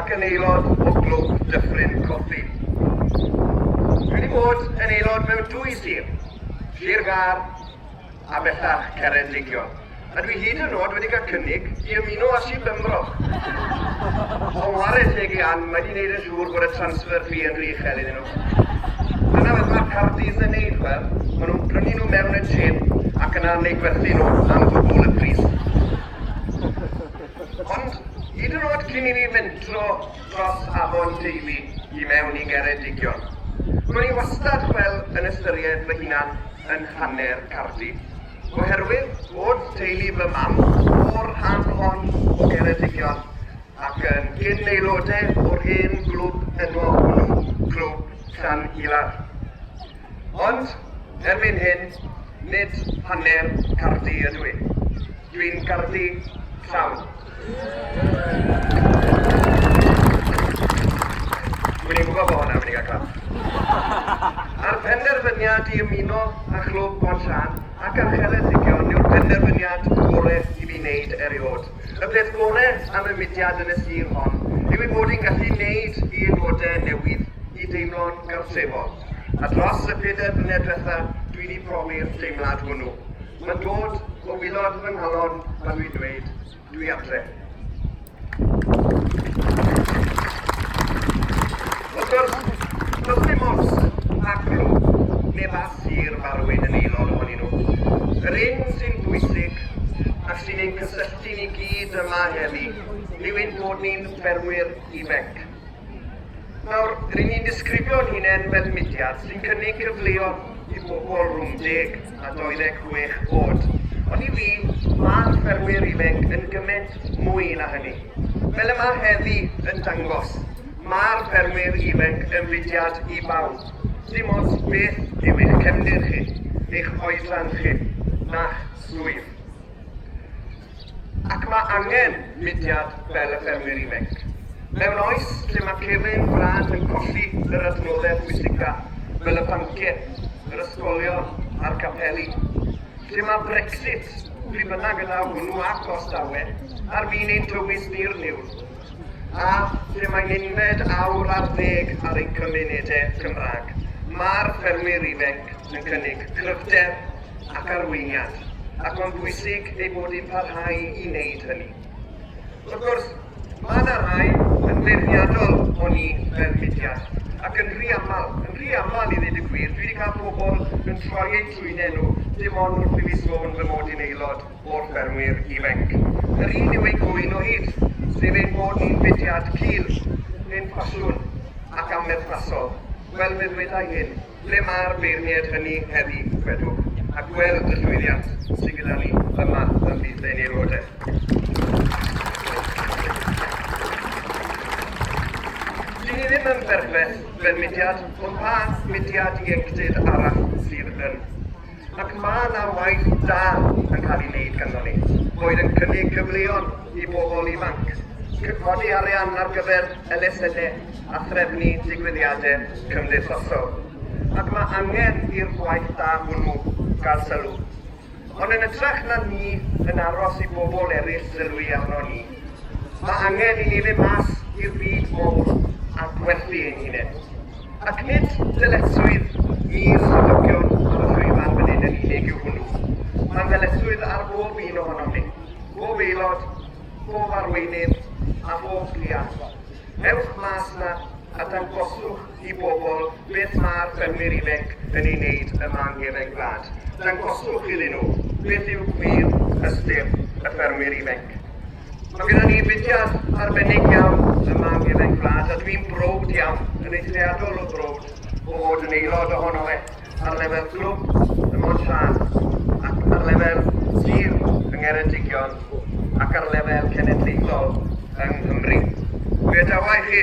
ac yn aelod o Glwb Dyffryn Conwy. Dwi wedi bod yn aelod mewn dwy sir, Sir Gâr a bellach Ceredigion, a dwi hyd yn nod wedi cael cynnig i ymuno â Sir Benfroch. O ware teg i Ann, mae wedi gwneud yn siŵr bod y transfer fi yn rhy uchel iddyn nhw. Dyna beth mae'r Cardis yn neud, chwel, maen nhw'n prynu nhw mewn y trên ac yna yn eu gwerthu nhw am ddwbl y pris. Ond hyd yn oed cyn i ni fentro dros afon Teifi i mewn i Geredigion, ro'n i wastad fel yn ystyried fy hunan yn hanner Cardydd, oherwydd bod teulu fy mam o'r rhan hon o Geredigion ac yn gyn-aelodau o'r hen glwb enwog hwnnw, Clwb Llan Ilad. Ond, erbyn hyn, nid hanner cardi ydw i. Dwi'n gardi llawn. Dwi'n ei gwybod bod hwnna'n mynd i gael clap. A'r penderfyniad i ymuno â Chlwb Pont Llan ac â Cheredigion yw'r penderfyniad gore i fi wneud erioed. Y peth gore am y mudiad yn y sir hon yw ei bod hi'n gallu neud i aelodau newydd i deimlo'n gartrefol. A dros y pedair mlynedd diwetha, dwi 'di profi'r teimlad hwnnw. Mae'n dod o wilod fy nghalon pan dwi'n dweud, dwi adre. Wrth gwrs, does dim os a grwp neb a sir farwyn yn aelod ohonyn nhw. Yr un sy'n bwysig ac sy'n ein cysylltu ni gyd yma heddi yw ein bod ni'n ffermwyr ifanc. Nawr, ry'n ni'n disgrifio'n hunain fel mudiad sy'n cynnig cyfleon i bobl rhwng 10 a 26 oed. Ond i fi, mae ffermwyr ifainc yn gymaint mwy na hynny. Fel y mae heddi yn dangos, mae'r ffermwyr ifainc yn fudiad i bawb, dim ots beth yw eich cefndir chi, eich oedran chi, na'ch swydd. Ac mae angen mudiad fel y ffermwyr imenc. Mewn oes lle mae cefn gwlad yn colli yr adnoddau pwysica fel y banciau, yr ysgolion a'r capeli, lle mae Brexit, pwy bynnag y daw hwnnw a cost awe, ar fin ein tywys ni i'r niwl, a lle mae'n unfed awr ar ddeg ar ein cymunedau Cymraeg, mae'r ffermwyr ifainc yn cynnig cryfder ac arweiniad, ac mae'n bwysig eu bod yn parhau i wneud hynny. Wrth gwrs, mae yna rai yn feirniadol o ni fel mudiad, ac yn rhy aml, yn rhy aml i ddweud y gwir, dwi wedi cael pobl yn troi eu trwyn nhw, dim ond wrth i mi sôn fy mod i'n aelod, o'r ffermwyr ifainc. Yr un yw ein cwyn o hyd, sef ein bod ni'n fudiad cul, ein ffasiwn, ac amherthnasol. Wel, fe ddweda i hyn, ble mae'r beirniaid hynny heddi, chwedwch, a gweld y llwyddiant sy gyda ni yma ym mhith ein aelodaeth. Dyn ni ddim yn berffaith fel mudiad, ond pa mudiad ieuenctid arall sydd yn? Ac mae yna waith da yn cael ei wneud ganddo ni. Roedd yn cynnig cyfleon i bobl ifanc, cyfodi arian ar gyfer elusennau a threfnu digwyddiadau cymdeithasol. Ac mae angen i'r gwaith da hwnnw gael sylw. Ond yn ytrach na ni yn aros i bobl eraill sylwi arnon ni, Mae angen i ni fynd mas i'r byd mowr a gwella ein hunain. Ac nid dyletswydd ni swyddogion ar y llwyfan fan hyn yn unig yw hwnnw, mae'n ddyletswydd ar bob un ohonom ni, bob aelod, bob arweinydd a bob client. Ewch mas 'na a dangoswch i bobl beth mae'r ffermwyr ifainc yn ei wneud yma yng nghefn gwlad. Dangoswch iddyn nhw beth yw gwir ystyr y ffermwyr ifainc. Mae gyda ni fudiad arbennig iawn yma yng nghefn gwlad a dwi'n browd iawn, yn eithriadol o browd, o fod yn aelod ohono fe ar lefel clwb ym Mhont-rhan ac ar lefel sir yng Ngheredigion ac ar lefel cenedlaethol yng Nghymru. Fe adawa i chi